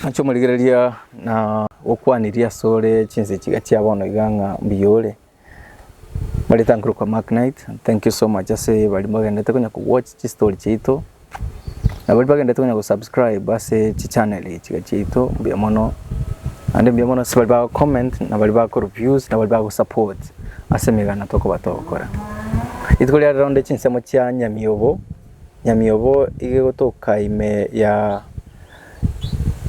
Inche omorigereria nagokwanirie asore chinse chiga chia bono iga ng'a mbuya ore, mbareta nkorokwa Mark Knight, thank you so much ase baria mbagenderete konya ko watch chistori chiaito, na baria bagenderete konya go subscribe ase chichannel chiga chiaito, mbuya mono, naende mbuya mono ase baria bago comment, na baria bagokora views, na baria bago support ase emegana tokoba togokora. Rituko ria rero onde chinsemo chia nyamiobo, nyamiobo iga egotoka ime ya.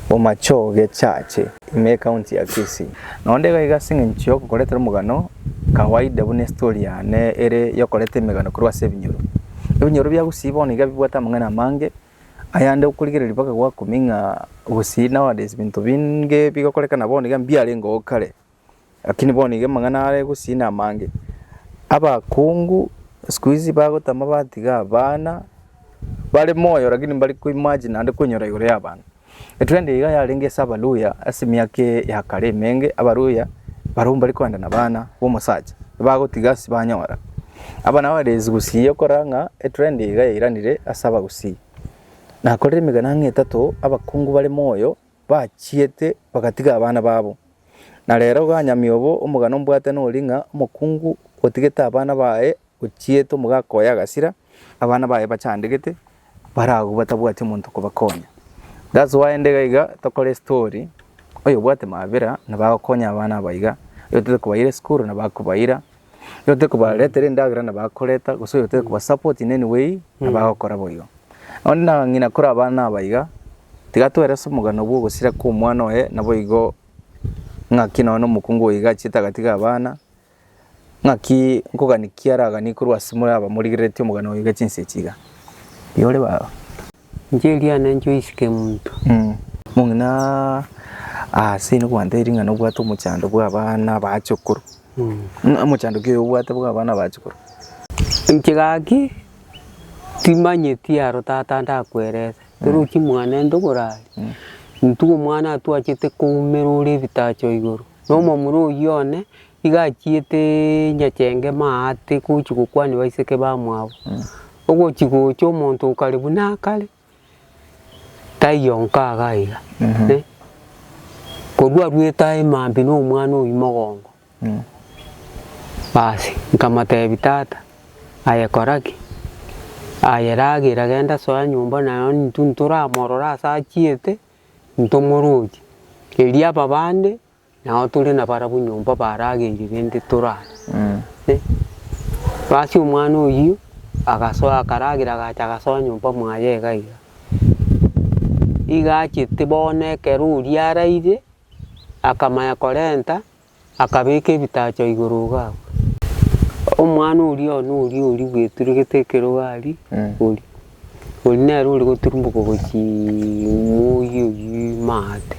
Bomachoge Church, ime ecounty ya Kisii. Naonde iga iga as'engencho y'ogokoretera omogano kawaida buna estory yane ere y'okoreta emegano korwa ase ebinyoro. Ebinyoro bia Gusii bono iga bibwate amang'ana amange, ayande okorigereria mpaka gwakumia ng'a Gusii nowadays binto binge bigokorekana bono iga mbiarenge oo kare. Lakini bono iga amang'ana are gusii namange, abakungu siku hizi bagotama batiga abana bare moyo lakini mbari ko imagine naende koinyora igoro y'abana. Etrend iga yarenge ase abaluhya ase emiaka ya kare emenge, abaluhya barobwo mbari koenda nabana b'omosacha bagotiga ase banyora. Aba nabo abarezi gusii okorora ng'a etrend iga yairanire ase abagusii. Nakorire emegena ang'e etato abakungu bare moyo. bachiete bagatiga abana babo. Na rero ganyamia obo omogano mbwate nori ng'a omokungu otigete abana baye ochiete omogaka oye agasira, abana baye bachandegete bare agwo batabwati omonto okobakonya. That's why inde iga iga tokore estori oyobwate mabera nabo agokonya abana abaiga, oyotokobaire esukuru nabo akobaira. Oyotekobaretera endagera na bakoreta gose oyotekobasupport in any way na bagokora boigo. Onde na ng'ina kore abana aba iga, tiga twere ase omogano bwa ogosira kwa omwana oye naboigo ng'aki nonya na omokungu oyo iga achiete agatiga abana, ng'aki nkogani ki araganie korwa ase more abamorigereretie omogano oyo iga chinsa echi iga. Iyore baba. Inche eriana inche oisike monto. Mong'ina aase nokwantebetie ng'a nobwate omochando bw'abana bachokoro. Omochando ki oyo obwate bw'abana bachokoro? Inche gaki timanyeti aro tata ndakwerese, torochi mwanento borare, intwe omwana atwachete koumera ore ebitacho igoro, nomomura oyio one. Iga achiete nyachengema aa ate gochia gokwania baiseke bamwabo. Ogochia gocha omonto o kare buna akare, taiyo onka iga iga. Korwa arwete aye maambia na omwana oyio mogongo, basi nkamotebia tata, aye kora ki? Aye ragera genda soa nyomba naye onye intwe ntoramorora ase achiete, ntomoroche. Erio ababande Nao tore nabarabwo nyomba barageire rende torare. Basi omwana oyio agasoa akaragera agacha agasoa nyomba mwaye iga iga. Iga achete bono ekero oria araire akamanya korenta akabeka ebitacho igoro iga abwo. Omwana oria one oria oria bweturegete ekero aria oria. Oria nere ore goturumboka gochia moyio oyio ime aate,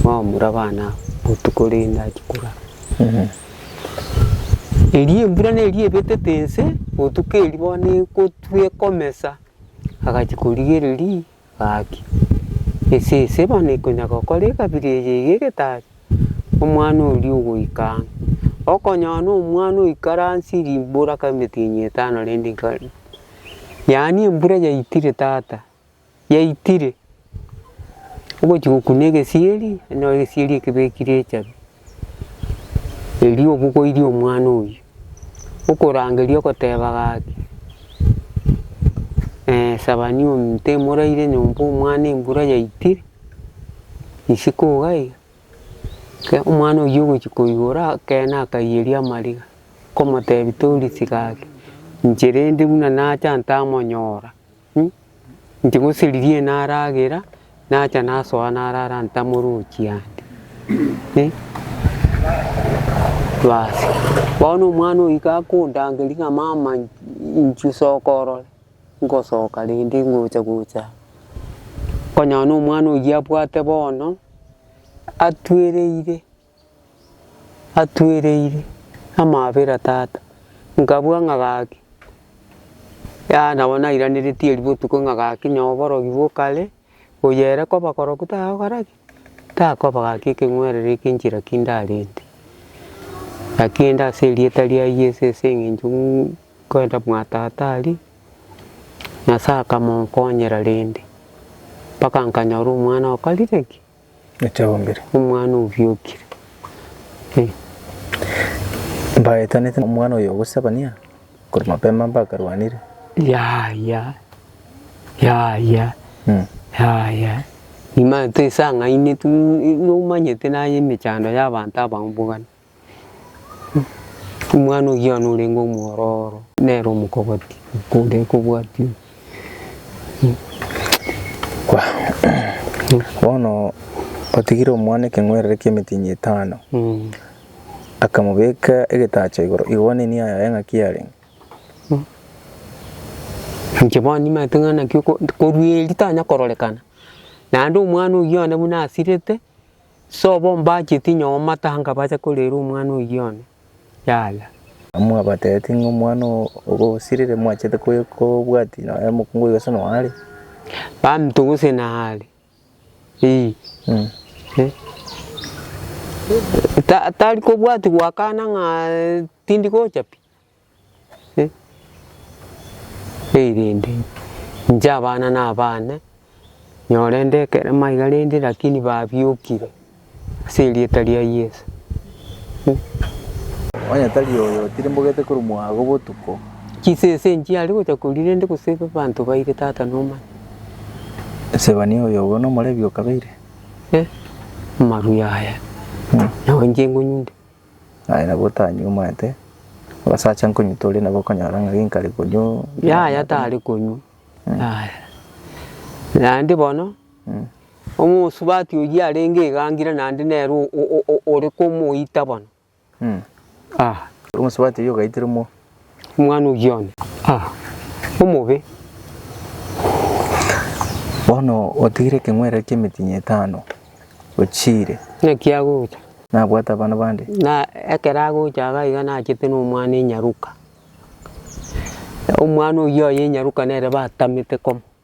bamura abana aba botuko rende achia korara. Erio embura neria ebetete ense, botuko erio bono egotwa ekomesa, agachia korigereria agakia. Ese ese bono ekonyara gokora ekabira eye iga egetari. omwana oria ogoika ang'e. Okonyora na omwana oikire ansi rimbura kera emitinyi etano rende nkare, yaani embura yaitire tata, yaitire, ogochia gokuna egesieri, onyore egesieri ekebekire echabi, erio obogoirie omwana oyio, okorangeria ogoteba gaki, sabania ominto emoraire nyomba omwana embura yaitire. Isiko iga iga, ekero omwana oyio ogochia koigora ekeene akaiyeria amariga, nkomotebi tori tiga ake, inche rende buna nacha ntamonyora mh, inche gose riria ere naragera, nacha nasoa narara ntamorochi ande eh, basi bono omwana oyio gakondangeria ng'a mama in- inchio sokorora. Ngosoka rende ingocha gocha konyora nomwana oyio abwate bono atwereire, atwereire amabera tata. Nkabua ng'a gaki, yaya nabo nairaneretie erio botuko ng'a gaki noo oborogi bokare. Oyo ere koba koroku tagokora ki? Takoba gaki ekeng'werero eke nchera ki ndarente. Lakini inde ase erieta ria Yeso ase eng'encho ng'u nkoenda mwa tata aria, Nyasae akamonkonyera rende, mpaka nkanyora omwana okorire ki? Nochagombire. Omwana obiokire. Ee. Mbaetanete nomwana oyo gose abania, korwa mapema mbakarwanire. Yaya, yaya, yaya, nimanyeto esang'aine tu, nomanyete naye emechando y'abanto abamobogania. Omwana ogiana orenge omwororo nere omokogoti kore kobwatia bono otigire omwana ekeng'werere ki'emetinyi etano, akamobeka egetacho igoro, igo one enia yaye ng'a ki yarenge? Inche bono nimanyete ng'a naki korwa eeri tanya kororekana, naende omwana oyio one buna asirete, Sobo mbacheti nyoo matanga bacha korera omwana oyio one, yala. Mwabataeti ng'a omwana ogo osirire mwachete kobwati nonya mokungu oyo gose noare. Baminto gose naare, ii. Tari kobwati goakana ng'a tindi gocha pi. Erinde inche abana nabane, nyorende ekerema iga rende lakini babiokire ase erieta ria Yeso. Onye tari oyo, timbogete korumwa agwo botuko. Chisese nchiare gocha koria rende gose abanto baire tata nomanya. Sebania oyo obo nomorebi okabeire. Amarue aya, nao inche ngonyunte. Aye nabo otanyuomete, abasacha nkonywa tore nabo okonyora ng'a genkare konywa Yaya tare konywa, yaya. Naende bono, omosubati oyio arenge iga angire naende nere o- o- o- ore komoita bono, ah. Omosubati oyio ogaitire mo. omwana o Gioni. Ah, omobe! Bono otigire ekeng'werero ki'emetinyi etano, ochiire. Naki agocha? Nabwate abana bande? Na ekero agocha iga iga nachete nomwana enyaruka. Omwana oyio oye enyaruka nere batamete koma.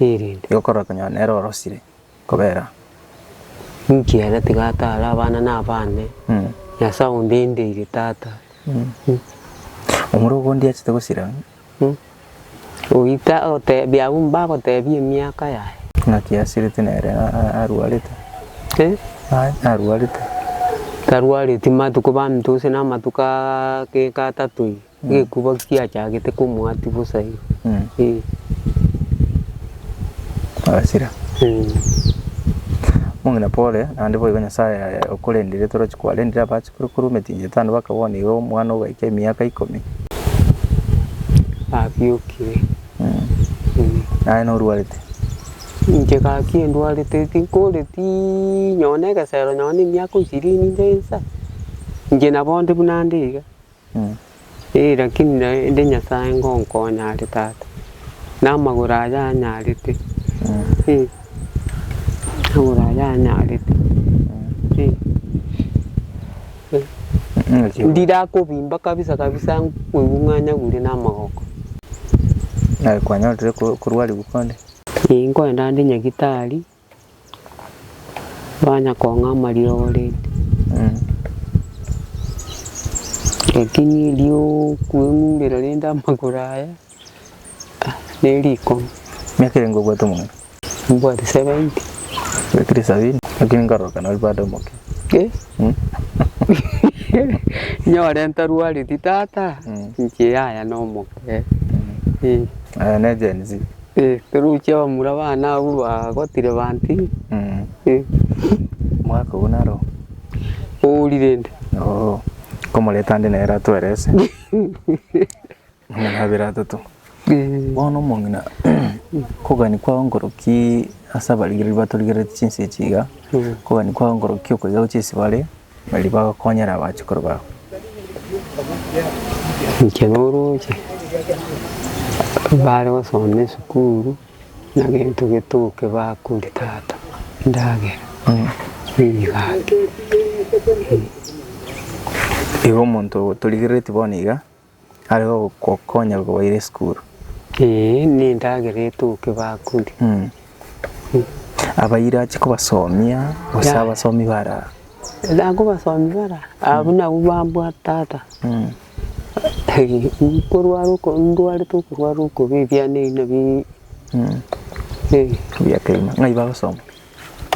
erinde. Igokora konyora nere orosire kobera. Inki ere tiga atare abana na abande Nyasae onde indeire tata. Omura ogondi achete gosira. Goita otebia abwo mbagotebia emiaka yaye. Naki asirete nere arwarete. Aye arwarete. Tarwareti matuko baminto gose namatuko ageke atato iga. Gekuba kiachagete komwati bosa igo. Ee. Agasira. Omong'ina Pole, naende boigo Nyasae okorendire toroche kwarendire abachikuru korwa emetinyi etano bakabua nigo omwana ogaika emiaka ikomi. Abiokire. Naye norwarete. Inche gaki endwarete tinkoretii nonye na egesero nonye na emiaka ishirini nde nsa. Inche nabonde buna nde iga. Ee, lakini naende Nyasae ngonkonya are tata, na amagoro aye anyarete, ee, amagoro aye anyarete, ee. Ndirakobimba kabisa kabisa nkoigwe ng'a nyagure na amagoko. Nare kwanyorire ko- korwarigwa kore? Ee, nkoenda ande nyagitari, Banya kong'ama riogo rende, lakini eriokweng'urera rende amagoro aya nerikong'u. Miaka erenge obwate omong'ina? Mbwate seventy. Obekire sabini lakini nkarora kana ori bado omoke. Nyore ntarwareti tata inche yaya nomoke. Aya ne Gen Z. Toruchi abamura bane abwo bagotire banti. Omwaka ogo naro. Ouri rende. Oo komoreta ande nere atwerese. Amang'ana abere atato. Bono omong'ina kogania kwao nkoroki ase abarigereria batorigeretie chinse echi iga, kogania kwao nkoroki okoiga gochia ase bare. Baria bagokonyera abachukuru bao. Inche noroche bare gosoma esukuru na gento getoke bakori tata endagera nigake. Igo omonto otorigereretie bono iga. Are gogokonya gokoboira esukuru. Ee, nendagera etoke bakurie. Abaire ache kobasomia gose Yeah. abasomi bare aa. Nakobasomi bara abwo nabwo bambwate tata nkorwara oko ndwarete okorwara okobe ebiana ebi nabi eh Ebiya keima. Ng'ai bagosoma?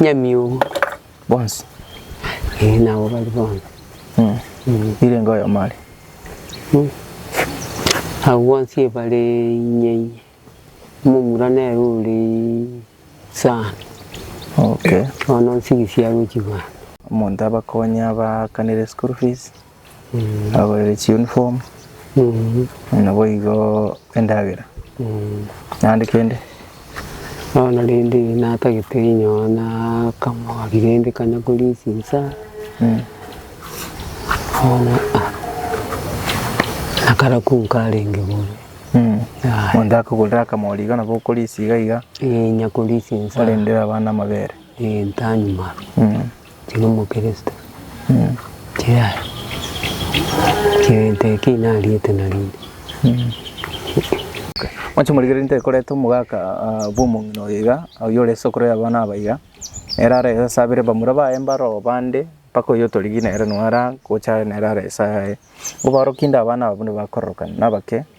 Nyamiogo. Bonsi? Ee, nabo bari bonsi. Mm. Mm. Irenge oyomo are. Mm. Abo bonsi ebare inye inye. Omomura nere ore sana. Okay. Bono nsigisi agochi bwango. Omonto abakonye abaakanere school fees. Abagorere chiuniform naboigo endagera naende kende. Bono rende natagete inyowe na akamori rende kanya korisia inse aa bono nakare ko nkarenge bore monto akogorere akamori iga nabo okorisia iga iga inya korisia inse aa orendere abana amabere ee ntanywa. Tiri Omokristo, tiraria egento ekio inariete narende. Mwanche morigererie ntekoreta omogaka bw'omong'ina oyo iga, oyio ore isokoro y'abana aba iga, ere ara esabere bamura baye mbaro bande, mpaka oyio otorigia nere noo ara gocha nere ara esayaye. Obaorokie inde abana aba buna bakororokana, nabake.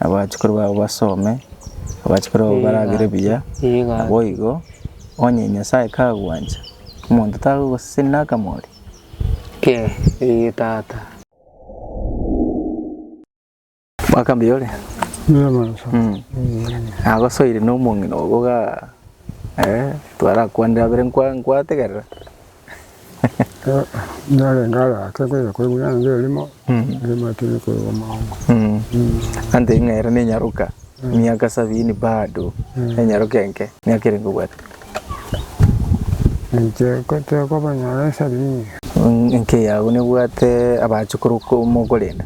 Abachukuru babo basome, abachukuru babo baragere buya, naboigo onye Nyasae kagwancha, omonto tagogoseseni na akamori? Kee, ee tata. Mwaka mbuya ore? Mbuya mono sana. Mm. Mm. Nagosoire nomong'ina ogo ga eh twarakwanire abere nkwa nkwategerera. narenge ara ake nkoira koigwa naende erimo erimo etari koigwa mono Anto eye ng'aera nenyaroka miaka sabini bado enyaroka enke miaka ere nkobwate inche tekoba nyore esabini enke yago nebwate abachukuru ko- mokorenda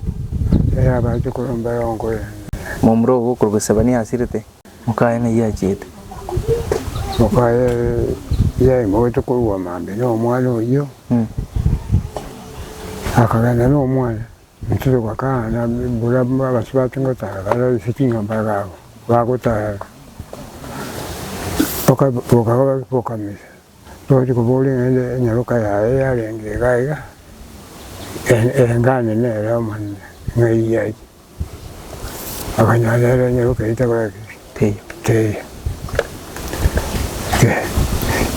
eh abachukuru mbero nkorende momura ogo okorwa Sefania asirete Mokaye ng'ai yachiete? Mokaye yaimoete korwa mambia y'omwana oyio, akagenda n'omwana goturuka Kaana, buna abasio bache gotara bare ase chinyomba bagotaara, boka boka boka misa. Togochia kobooria ng'a enyaroka yaye yarenge iga iga, erengane nere Omonene ng'ai yaria. Okonyora nere enyaroka eyio tekoreti ki? Teiyo.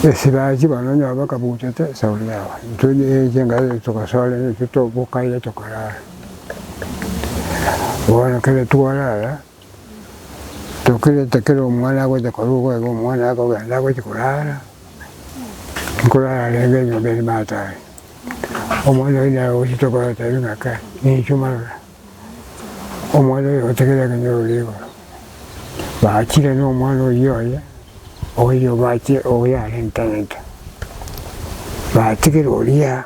Esira achia bono onye obe kabuchete esauri yago, intwe chingaki echio togosoera intwe tobokaire tokarara. Bono ekero twarara. Tokerete kera omwana agocha koruga iga omwana akogenda agochi korara, nkorara arenge enyomba ere matare. Omwana oye naye ogochi tokorora tari ng'ake ninchwe marora. Omwana oye ogotegerera ekero nyoro rigoro. Bachire na omwana oyio oye, oyio bache oyo arentagete. Batigire oria.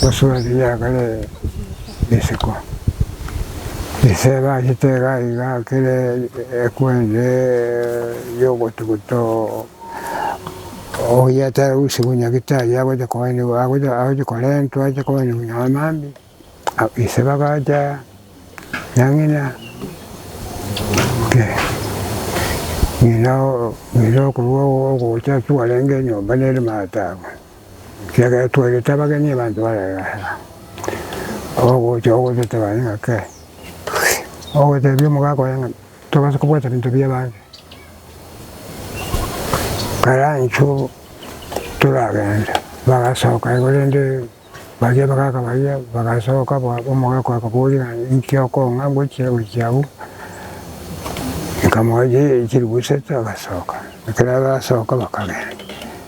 Gosuba riria kare isiko, ise ebachete iga iga kere ekwense y'ogotuguta oyia tari gosuba nyagete aria agocha korentwa ache konywa amaambia. Ise bagacha na ng'ina, ng'ina okorwa ogocha twarenge enyomba nere mato abwo, ekiagera twarete abageni abanto bararenge ase abwo, ogocha ogoteba ng'a kei, ogotebia omogaka oye ng'a tobasa kobwata ebinto bia abande, karanche obo toragende, bagasoka igo rende. Baria abagaaka baria bagasoka bo omogaaka akaboria, Inki okong'a ngochia gochia abwo? Nkamoetia, Chilifu isato. Agasoka. Ekero arasoka bakagenda.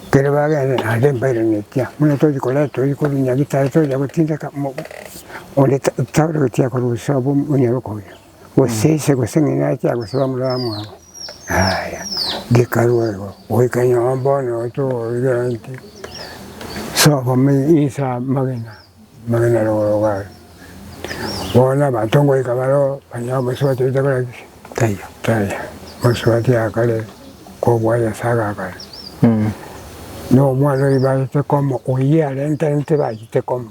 Ekero bagenda naende mbairaneti, buna tochia korenta toria korwa Nyagetari toria gotindeka onde tauragetie korwa uso abwo onyare okoira. Gose ise gose ng'ina ache agosaba omorara mwabo, yaya, gekarue igo, goika nyomba bono togoigera inki, soka inse amagena, amagena rogoro are, bono na abanto ngoika bareo banyare komosubati oye takora ki? Taiyo, taiyo, omosubati yakare kobua Nyasae agakare, na omwana oyo bachete komo, oyio arenterente bachete komo.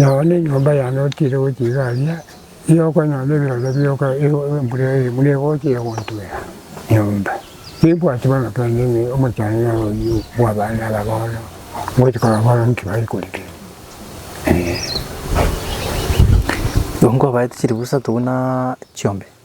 Nao nenyomba yane otiire gochia iga aria, nigo okonyora ebirore bioka embura eye buna egocha egontwera nyomba. Timbwati bono kende ng'a omochando oyio bwa abana aba bono, ngochi korora bono nki bare korigereria, eeh. Nkobaete chiribusa tobuna chiombe.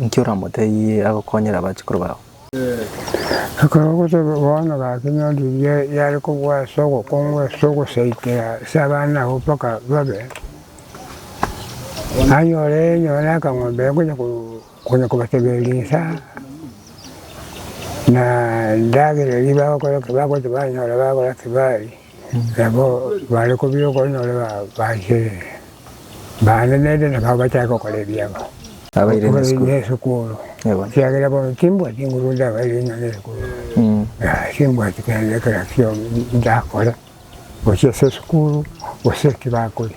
Ninki oramotebirie agokonyere abachukuru bao? Ekero ogoteba bono gaki nyore riria yare kobua ase ogokongwa ase ogosaikera ase abana abwo mpaka babe, anyore nonya na akang'ombe akonya konya kobatebera rinsa na endagera eria bagokora ki bagocha banyora bagora ki baria. Nabo bare kobua okonyora babacherire, bande naende nabo abachake gokora ebiabo. Abaire nesukuru, ekiagera bono timbwati nguru ndabaire ng'a nesukuru, timbwati kende kera kiaye ndakore, gochia ase esukuru gose eki bakoria.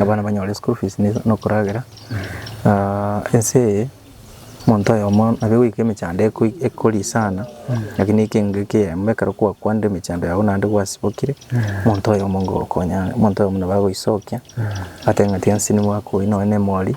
Abana banyore school fees nokoragera ense eye omonto oyomo nabo goika emechando ekori sana lakini eke nigo ekeemo ekero kwa kwandire emechando yago naende gwasibokire omonto oyomo ngokonya omonto oyomo nabo agoisokia agoteba ng'a tiga nse nimwakoire nonye na emori.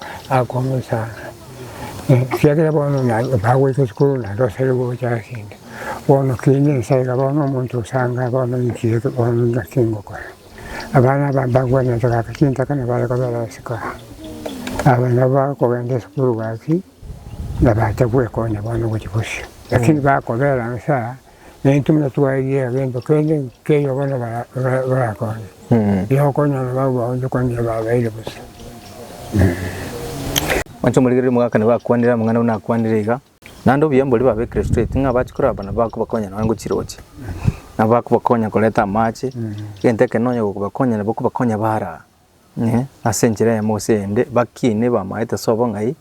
Akomochanga, ekiagera bono bagoika esukuru naende osare gocha ase inde. Bono kegeni nsa iga bono omonto osanga bono nki eke bono naki ngokora. Abana aba mbakwanete gaki chintaka nabo bare kobera ase kara. Aba nabo bakogenda esukuru gaki, nabacha gwekonya bono gochia bosio. Lakini bakobera nsa. Naintwe buna twairie egento kende nkeyo bono barakonye, tiga okonyora abao bao onde kwandia babeire bosa. Onsi omorigereria omogaka nigo akwanire amang'ana buna akwanire iga, Naende obuya mborie babe Kristo eti ng'a abache koraba bana bakobakonya nonya ngochiroche, na bakobakonya koreta amache, egento ekero nonya gokobakonya nabo okobakonya baare aa. Ase enchera eyemo gose eyende bakiine bamaete ase obong'ai,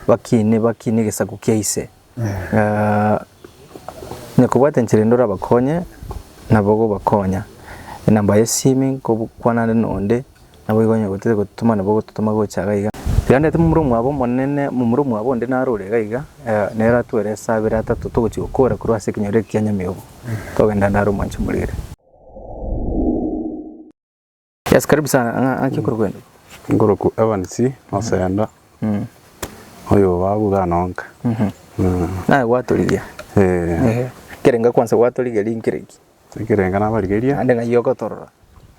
bakiine bakiine egesaku kia ise. Onye kobwate enchera ende orabakonye nabo ogobakonya. Enamba ya esimi nkokwana ande na onde naboigo onye gotete gototoma nabo ogototoma gocha iga iga. Rianrete momura omwabo omonene momura omwabo onde naro ore iga iga nere atwere ase abere atato togochi gokora korwa ase ekenyoro eke kia nyamiogo togenda naro mwancha morere. Yes, karibu sana. Ng'a- Ng'aki okoro kwende. Ngoroku Evans Osenda oyo babu ganonka. Mm. Naye gwatorigia. Eh, Ehe. Kerenga kwanza gwatorigia rinkereki. ekerenga nabarigeria, Ande ng'ai ogotorora.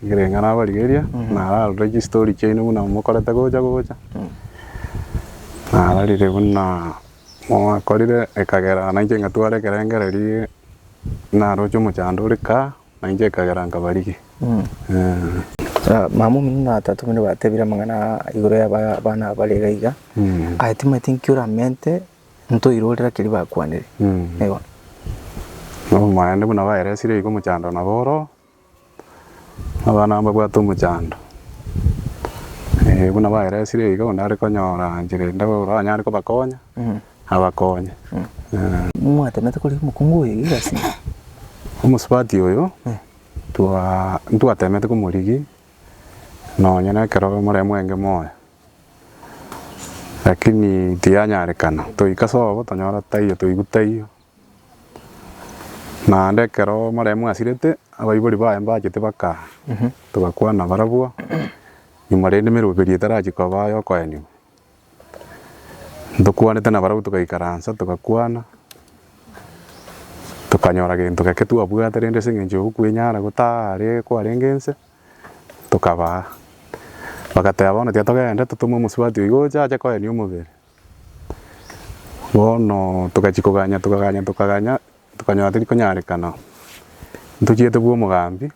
ekerenga nabarigeria, nararore chistory chiaino buna mokorete gocha gocha. Nararire buna mwakorire ekagera nainche ngatwara ekerengererio naroche omochando ore kaa. Na inche ekagera nkabarigia, eh. Mama omino na tata omino batebire amang'ana aa igoro y'abana bare iga iga, aye timanyeti nki oramente ntoire ore raki erio bakwanire. Eeh. Nomoende buna baeresire igo omochando nabo oroo, abana mbabwate omochando. Eeh buna baeresire iga onde are konyora nchera ende oranyare kobakonya. abakonye. Mwatemete korigia omokungu oyo egasi? Omosubati oyo twa ntwatemete komorigia nonye nekero more mwenge moyo, lakini tiyanyarekana, toika sobo tonyora taiyo toigwa taiyo, naende ekero more mwasirete abaibori baye mbachete baka togakwana barabwo nyuma rende emeroberio etarachi koba yokoenigwa. Ntokwanete nabarabwo togaikaransa togakwana, tokanyora gento geke twabwate rende ase eng'encho yogokwenyara gotare kwarenge ense, tokabaa. Bagateba bono tiga togende totome omosubati oigo oche ache koenia omobere. Bono togachia koganya tokaganya tokaganya tokanyora tori konyarekana ntochiete bwa omogambi.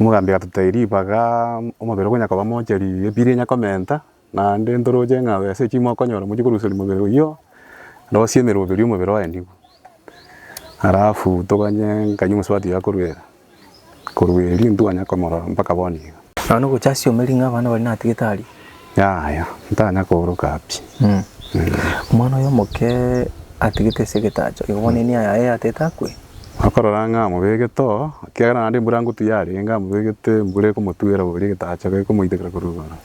Omogambi agatotebia, Ribaga omobere okonya koba mochari, ebiri enya komenta, naende ntoroche ng'a ase eki mokonyora mochie koruseria omobere oyio, rosie emeroberi y'omobere oenigwe. Alafu toganye nkanywe omosubati yakoruera, korwa erio intwe twanya komorora mpaka bono iga. Nonya nogocha ase omeri ng'a abana baria natigete aria. Yaya, ntanya kooroka pi. Omwana oye omoke atigete ase egetacho, igo bono enia yaye yatete akwe? Okorora ng'a amobegete oo, ekiagera naende embura ngotu yarenge, amobegete embura ekomotuera boria egetacho gekomoitekera korwa igoro.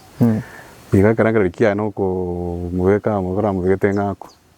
Igo ekero akereri kiaye nokomobeka, okoramobegete ng'a akwe.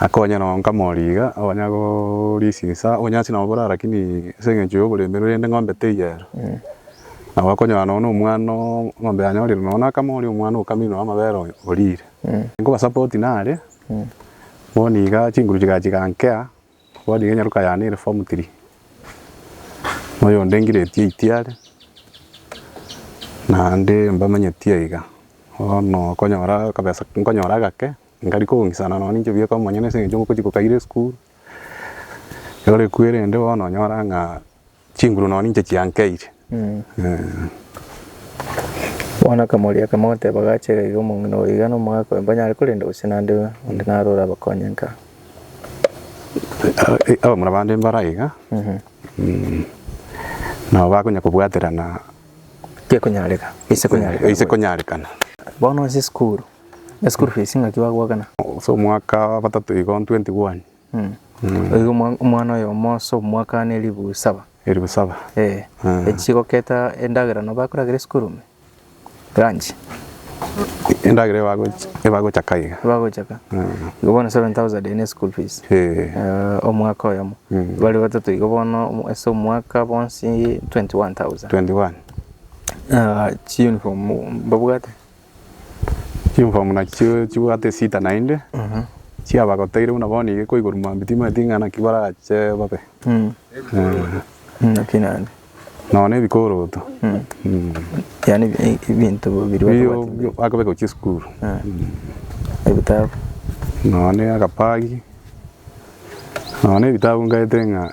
Akonye nonya nkamori iga, onya gorisia insa, onya ase nabo borara lakini ase engencho y'oborembe rende ng'ombe teiyo ero. Nabo okonyora nonya na omwana oo ng'ombe yanyorire nonya na akama oria omwana okamire nonya amabere oyo orire. Nkoba support nare, bono iga chinguru chigacha chigankea. Bono iga enyaroka yane ere form three, na oyonde ngireti eight are, naende mbamanyeti aiga. Bono okonyora akabesa nkonyora agake, nkari kong'isana nonye ninche bweka omonyene ase eng'encho ngochi kokaire esukuru, egore kwerende bono onyora ng'a. chinguru nonye ninche chiankeire. Bono akamoria, akamoteba, Gachega iga omong'ina oyo iga nomogaka oyo mbanyare korenda gose nande onde naro orabakonye nka? Abamura bande mbare aiga, nabo bakonya kobwaterana Gekonyareka, gise konyarekana. gise konyarekana. Bono ase esukuru, esukuru fees ng'aki bagoakana? Ase omwaka bwatato igo 21. Igo omwana oyomo ase omwaka aane elifu saba. Elifu saba. Ee. Echi goketa endagera no bakoragera esukuru ime. Lunch. Endagera ebagochaka iga. Ebagochaka. Igo bono seven thousand eye ne school fees. Ee. Omwaka oyomo. Bare batato igo bono ase omwaka bonsi twenty one thousand. Twenty one. Chi uniform mbabwate. Chimform naki chi- chibwate esita naende, chiabagoteire buna bono iga ekoigorwa mambia timanyeti ng'a naki barache babe. Mm. Eh, Mm, Naki naende. nonya na ebikoroto. Mm. Mm. Yaani ebi- ebinto biri Bi- batobwati bi- bakobe gochia esukuru. ebitabu. Nonya na agapagi, nonya na ebitabu ngete ng'a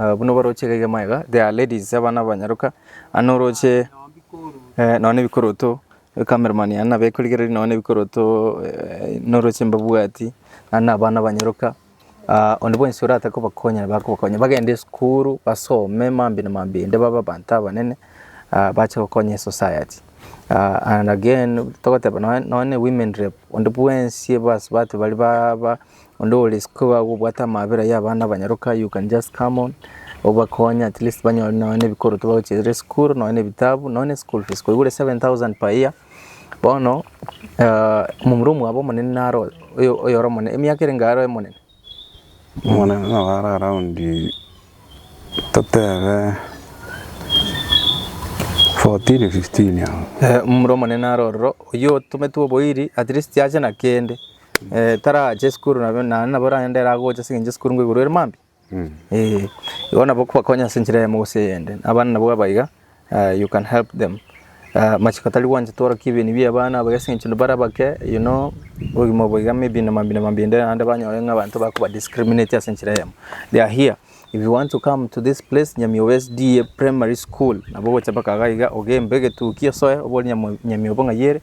Eh, buna obaroche iga iga maega, there are ladies abana abanyaroka ande oroche eh, nonya ebikoroto cameraman ande nabekorigereria nonya ebikoroto eh, noroche mbabwati ande abana abanyaroka Ah, onde bwensi orate kobakonya nabo akobakonya bagende esukuru basome mambia na mambia ende babe abanto abanene ah, bache gokonya esociety Ah, and again togoteba nonya nonya ne women rep onde bwensi ebasubati bari ba- ba- Onde ore isiko iga iga obwate amabera ya abana abanyaroka you can just come on obakonye at least banyore nonya na ebikoroto bagochirere esukuru nonya na ebitabu nonya na eschool fees koigure 7000 per year bono ah, omomura omwabo omonene nare oyo- oyo oyore omonene emiaka erenge are omonene Omonene nabo are around totebe 14 15 abwo. Eh, omomura omonene nare ororo oyio otometwe oboiri at least ache na kende tarache esukuru nabo naende nabo rende ere agocha ase eng'encho esukuru nigo igoro ere mambia, eh. Igo nabo okobakonya ase enchera eyemo gose eyende, abana nabo aba iga you can help them amachiko tari gwanchete orokie ebeni bia abana aba iga ase eng'encho bare abake you know obogima obo iga maybe na mambia na mambia ende naende banyore ng'a abanto bakoba discriminatia ase enchera eyemo. They are here if you want to come to this place Nyamioba SDA primary school nabo ogocha mpaka iga iga ogembe egetuki osoe obori Nyamioba ng'ai ere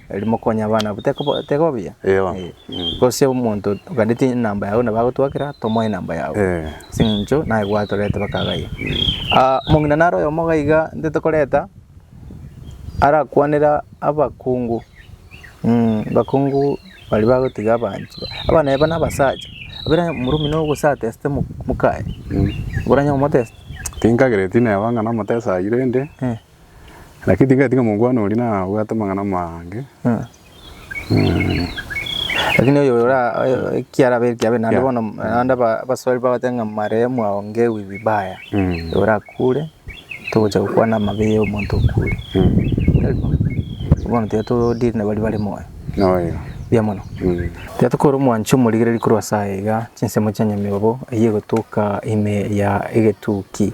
Riria mokonya abana abwo teko teko buya? Eyo. Eh. Mm. Gose omonto oganeti enamba yago nabo agotwakera tomoe enamba yago. Eh. Ase eng'encho naye gwatorete baka ghaiya. Ah, omong'ina naro oyomo iga iga intwe tokoreta arakwanera abakungu. Mm, abakungu baria bagotiga abanto ba, abana aba na abasacha. Buna omoro omino ogosatesete mo- mokaye. Mm. Oranyare omotesta? Tinkagereti neba ng'a nomotesa ayi rende. Eh. Lakini tingati ng'omokwana oria nabwate amang'ana amange. Lakini oyo ora ekiarabe ekiabe naende Yeah. bono naende aba- abaswali bagote ng'a marehemu aongewi vibaya Mm. orakure togocha gokwana amabe ya omonto okure Mm. bono tiga to deal na baria bare moyo Noyo. buya mono Mm. tiga tokore omwancho omorigereri korwa ase aya iga chinsemo chia nyamiobo eywo egotoka ime ya egetuki.